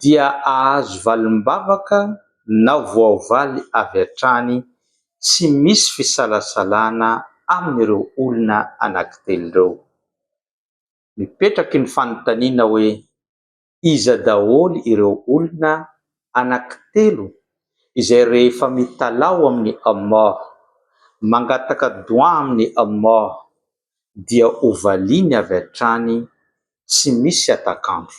dia ahazo valim-bavaka na voavaly avy hatrany tsy misy fisalasalana amin'ireo olona anankitelo ireo. Mipetraky ny fanontaniana hoe iza daholo ireo olona anankitelo izay rehefa mitalaho amin'i Allah, mangataka doua amin'i Allah, dia hovaliany avy hatrany tsy misy hatak'andro.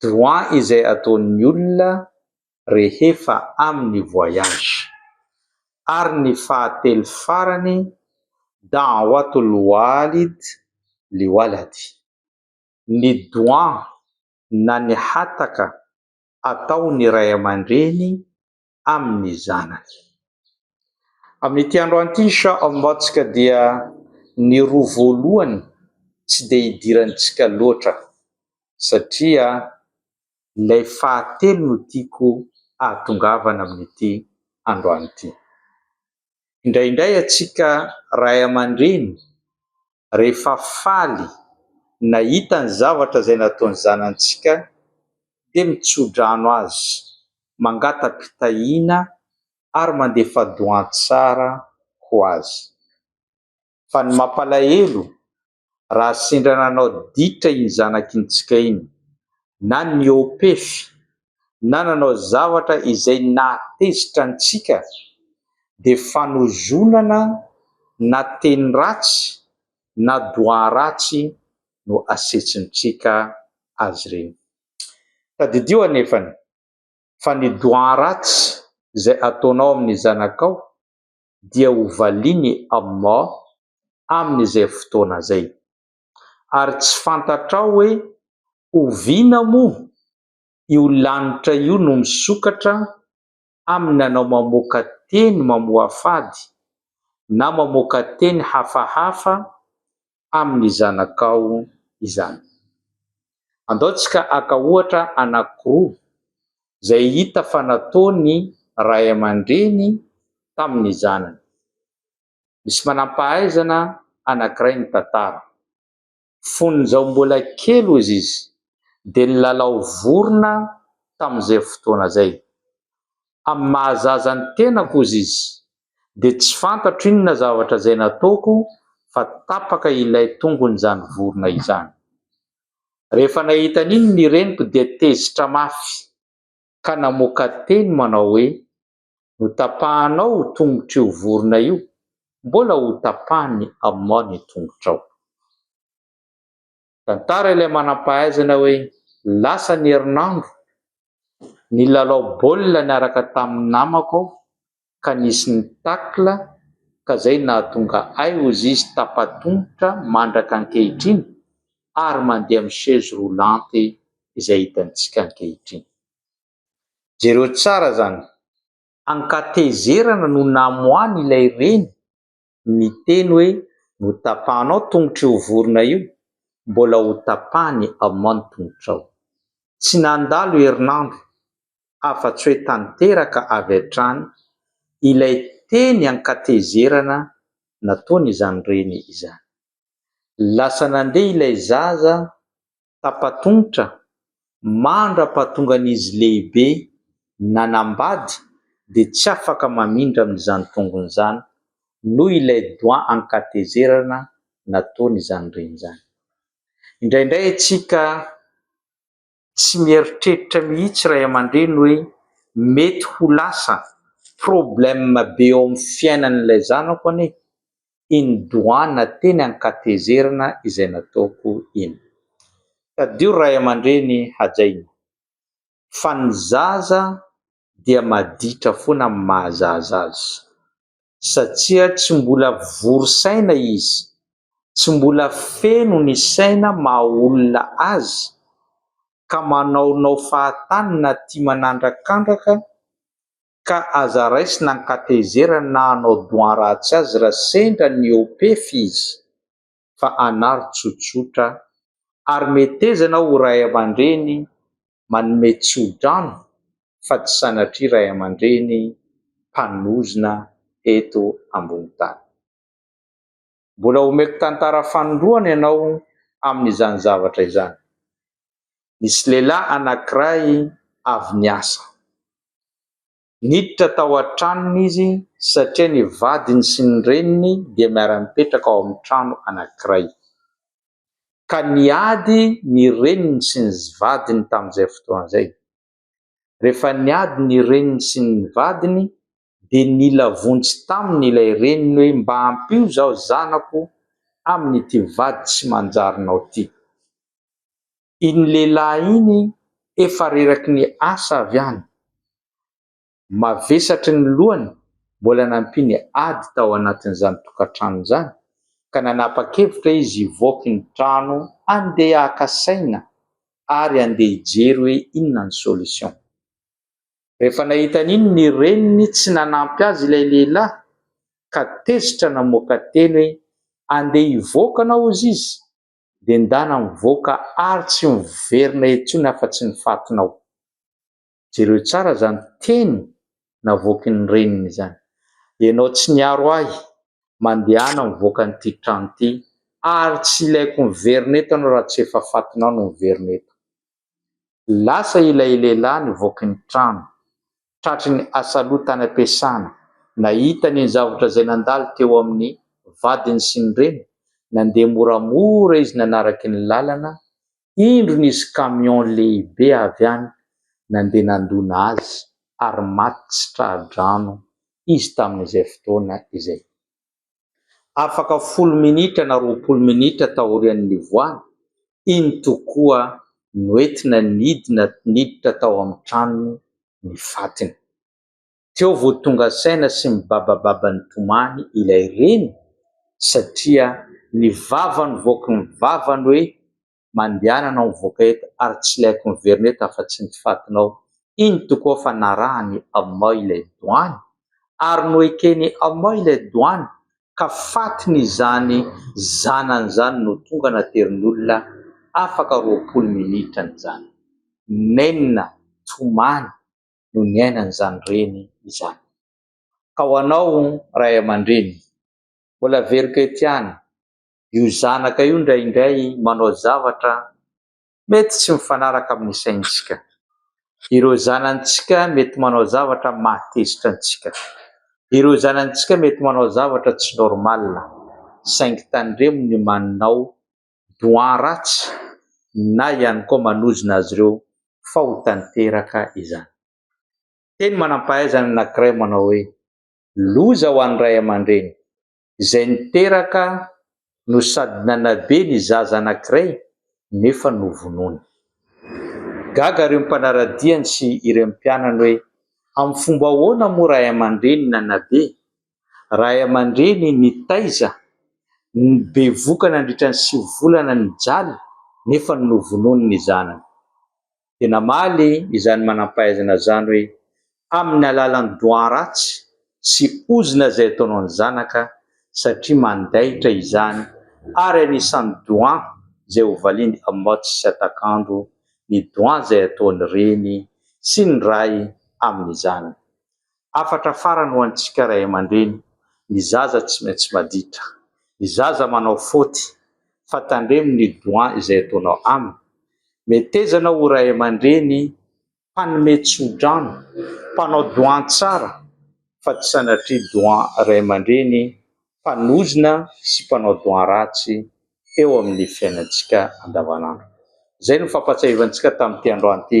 droit izay ataon'ny olona rehefa amin'ny voyage. Ary ny fahatelo farany, da'watul walid li waladi, ny doua na ny hataka ataon'ny ray aman-dreny amin'ny zanany. Amin'ity androany ity ny Shah of Motsk dia ny roa voalohany tsy dia idirantsika loatra satria ilay fahatelo no tiako ahatongavana amin'ity androany ity. Indraindray antsika ray aman-dreny rehefa faly nahita ny zavatra izay nataon'ny zanantsika dia mitsodrano azy, mangata-pitahiana ary mandefa doan-tsara ho azy. Fa ny mampalahelo, raha sendra nanao ditra iny zanakintsika iny na nihoa-pefy na nanao zavatra izay nahatezitra antsika dia fanozonana na teny ratsy na doa ratsy no asetsintsika azy ireny. Tadidio anefany fa ny doa ratsy izay ataonao amin'ny zanakao dia ho valin'i Allah amin'izay fotoana izay. Ary tsy fantatrao hoe oviana moa io lanitra io no misokatra amin'ny nanao mamoaka teny mamoafady na mamoaka teny hafahafa amin'ny zanakao izany. Andao tsika haka ohatra anankiroa izay hita fa nataon'ny ray aman-dreny tamin'ny zanany. Misy manam-pahaizana anankiray mitantara. Fony izaho mbola kely hozy izy dia nilalao vorona tamin'izay fotoana izay. Amin'ny maha zaza ny tenako hozy izy dia tsy fantatro inona zavatra izay nataoko fa tapaka ilay tongon'izany vorona izany. Rehefa nahita an'iny ny reniko dia tezitra mafy ka namoaka teny manao hoe Notapahanao io tongotr'io vorona io, mbola hotapahan'i Amon ny tongotrao. Tantara ilay manam-pahaizana hoe lasa ny herinandro, nilalao baolina niaraka tamin'ny namako aho ka nisy ny tacle ka izay nahatonga ahy hozy izy tapa-tongotra mandraka ankehitriny ary mandeha amin'ny chaise roulante izay hitantsika ankehitriny. Jereo tsara izany. Ankatezerana no namoahany ilay reny niteny hoe notapahanao tongotr'io vorona io, mbola ho tapahany amao ny tongotrao. Tsy nandalo herinandro afa-tsy hoe tanteraka avy hatrany ilay teny ankatezerana nataon'izany reny izany. Lasa nandeha ilay zaza tapa-tongotra mandra-pahatongan'izy lehibe nanambady dia tsy afaka mamindra amin'izany tongony izany noho ilay doigt an-katezerana nataony izany reny izany. Indraindray isika tsy mieritreritra mihitsy ray aman-dreny hoe mety ho lasa problème be eo amin'ny fiainan'ilay zanako anie iny doana teny Ankatezerana izay nataoko iny. Tadidio ray aman-dreny hajaina fa ny zaza dia maditra foana amin'ny maha zaza azy satsia tsy mbola vory saina izy, tsy mbola feno ny saina maha olona azy ka manaonao fahatany na tia manandrakandraka ka aza raisina ny katehizera na hanao doan ratsy azy raha sendra niopefy izy fa anaro tsotsotra ary metezana ho ray aman-dreny manome tso-drano fa tsy sanatria ray aman-dreny mpanozona eto ambony tany. Mbola homeko tantara fanindroany ianao amin'izany zavatra izany. Nisy lehilahy anankiray avy niasa. Niditra tao an-tranony izy satria ny vadiny sy ny reniny dia miara-mipetraka ao amin'ny trano anankiray. Ka niady ny reniny sy ny vadiny tamin'izay fotoana izay. Rehefa niady ny reniny sy ny vadiny dia nila vonjy taminy ilay reniny hoe mba ampio izaho zanako amin'ity vady tsy manjarinao ity. Iny lehilahy iny efa reraky ny asa avy any, mavesatry ny lohany mbola nampiany ady tao anatin'izany tokantrano izany ka nanapa-kevitra izy hivoaka iny trano handeha haka saina ary handeha hijery hoe inona ny solution. Rehefa nahita an'iny ny reniny tsy nanampy azy ilay lehilahy ka tezitra namoaka teny hoe, andeha hivoaka anao hozy izy dia ndana mivoaka ary tsy miverina intsony afa-tsy ny fatinao. Jereo tsara izany teny navoakin'ny reniny izany, ianao tsy niaro ahy, mandehana mivoaka an'ity trano ity ary tsy ilaiko miverina eto ianao raha tsy efa fatinao no miverina eto. Lasa ilay lehilahy nivoaka ny trano, tratry ny asaloha tany am-piasana. Nahita ny zavatra izay nandalo teo amin'ny vadiny sy ny reny, nandeha moramora izy nanaraky ny lalana, indro nisy camion lehibe avy any nandeha nandona azy ary maty tsy tra-drano izy tamin'izay fotoana izay. afaka folo minitra na roapolo minitra taorian'ny nivoahany, iny tokoa noentina nidina niditra tao amin'ny tranony ny fatiny. Teo vao tonga saina sy mibabababa nitomany ilay reny satria ny vavany voaky ny vavany hoe. Mandianana ao mivoaka eto ary tsy ilaiko miverina eto afa-tsy ny fatinao. Iny tokoa fa narahan'i Amma ilay doany ary noeken'i Amma ilay doany ka fatin'izany zanany izany no tonga naterin'olona afaka roapolo minitra an'izany. Nenina, tomany, no niainan'izany reny izany. Ka ho anao ray aman-dreny, mbola very kety ihany Io zanaka io indraindray manao zavatra mety tsy mifanaraka amin'ny saintsika. Ireo zanantsika mety manao zavatra mahatezitra antsika. Ireo zanantsika mety manao zavatra tsy normal. Saingy tandremo ny manao doha ratsy na ihany koa manozona azy ireo fa ho tanteraka izany. Teny manam-pahaizana anankiray manao hoe, Loza ho an'ny ray aman-dreny izay niteraka no sady nanabe ny zaza anankiray nefa novonoina. Gaga ireo mpanara-diany sy ireo mpianany hoe amin'ny fomba ahoana moa ray aman-dreny nanabe, ray aman-dreny nitaiza ny bevoka nandritra ny sivy volana nijaly nefa novonoiny ny zanany. dia namaly izany manam-pahaizana izany hoe, Amin'ny alalan'ny doha ratsy sy ozona izay ataonao ny zanaka, satria mandaitra izany, ary anisan'ny doha izay hovaliany amots sy atakandro ny doha izay ataon'ny reny sy ny ray amin'izany. Hafatra farany ho antsika ray aman-dreny, ny zaza tsy maintsy maditra. Ny zaza manao faute fa tandremo ny doigts izay ataonao aminy. Meteza ianao ho ray aman-dreny mpanome tso-drano, mpanao doigts tsara fa tsy sanatria doigts ray aman-dreny mpanozona sy mpanao doigts ratsy eo amin'ny fiainantsika andavanandro. Izay no fampahatsiahivantsika tamin'ity androany ity.